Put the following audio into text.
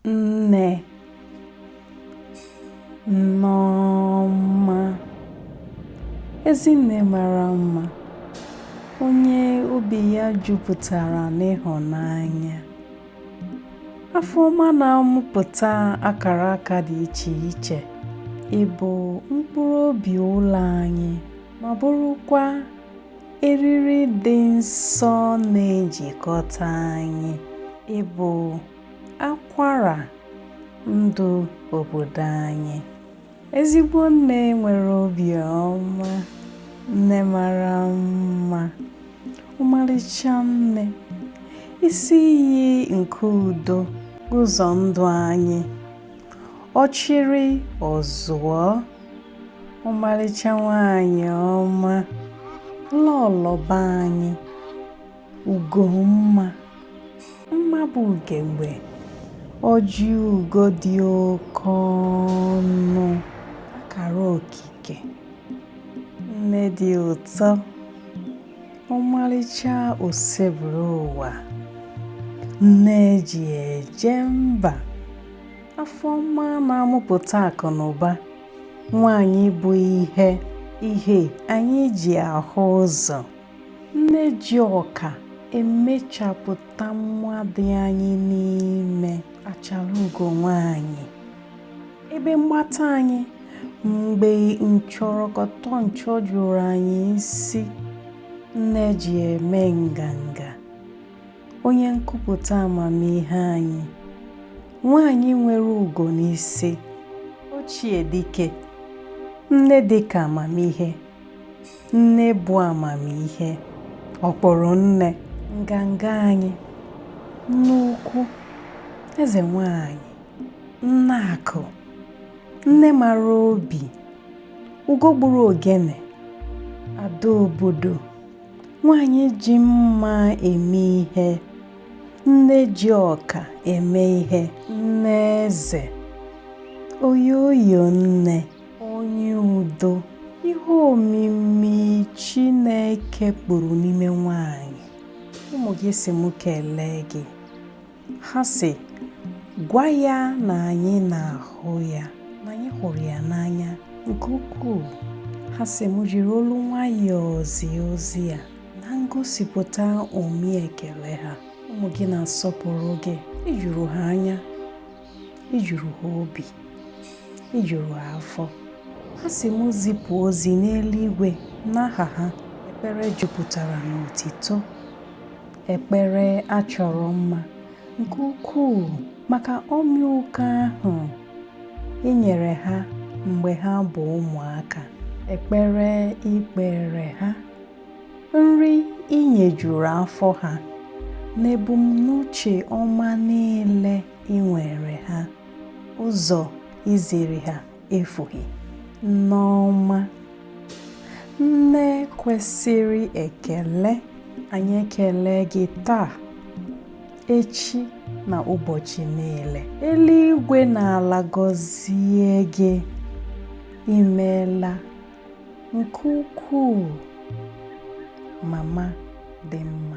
nne nneọma ezinne mara mma onye obi ya jupụtara n'ịhụnanya afọ ọma na-amụpụta akara aka dị iche iche ị bụ mkpụrụ obi ụlọ anyị ma bụrụkwa eriri dị nsọ na-ejikọta anyị ị bụ akwara ndụ obodo anyị ezigbo nne nwere obi ọma nne mara mma ọmarịcha nne isi iyi nke udo ụzọ ndụ anyị ọchịrị ọzụọ ọmarịcha nwanyị ọma lọlọ be anyị Ugomma mma bụ ugegbe ọjị ugo dị oke ọnụ akara okike nne dị ụtọ ọmarịcha Osebụrụwa nne e ji eje mba afọ ọma na-amụpụta akụ na ụba nwaanyị bụ ihe ihe anyị ji ahụ ụzọ Nne ji ọka emechapụta mma dị anyị n'ime achara ugo nwaanyị. Ebe mgbata anyị mgbe nchọrọkọtọ nchọ juru anyị isi nne e ji eme nganga onye nkupụta amamihe anyị nwaanyị nwere ugo n'isi ochie dike nne dịka amamihe Nne bụ amamihe, ọ kpọrọ nne. Nganga anyị, nne ukwu, eze nwanyị, nne akụ, nne mara obi, ugo gburu ogene, ada obodo, nwanyị ji mma eme ihe, nne ji ọka eme ihe, nne eze, oyoyo nne. onye udo ihe omimi Chineke kpụrụ n'ime nwanyị ụmụ gị sị m kelee gị ha sị gwa ya na anyị na-ahụ ya na anyị hụrụ ya n'anya nke ukwuu ha sị m jiri olu nwayọọ zie ozi a na ngosipụta omi ekele ha ụmụ gị na-asọpụrụ gị i juru ha anya i juru ha obi i juru ha afọ ha sị m zipụ ozi n'eluigwe n'aha ha ekpere jupụtara n'otito ekpere a chọrọ mma nke ukwuu maka ọmịiko ahụ i nyere ha mgbe ha bụ ụmụaka ekpere i kpeere ha nri i nyejuru afọ ha na ebumnuche ọma niile i nweere ha ụzọ i ziri ha efughị nneọma nne kwesịrị ekele anyị ekele gị taa echi na ụbọchị niile eluigwe na ala gọzie gị i meela nke ukwuu mama dị mma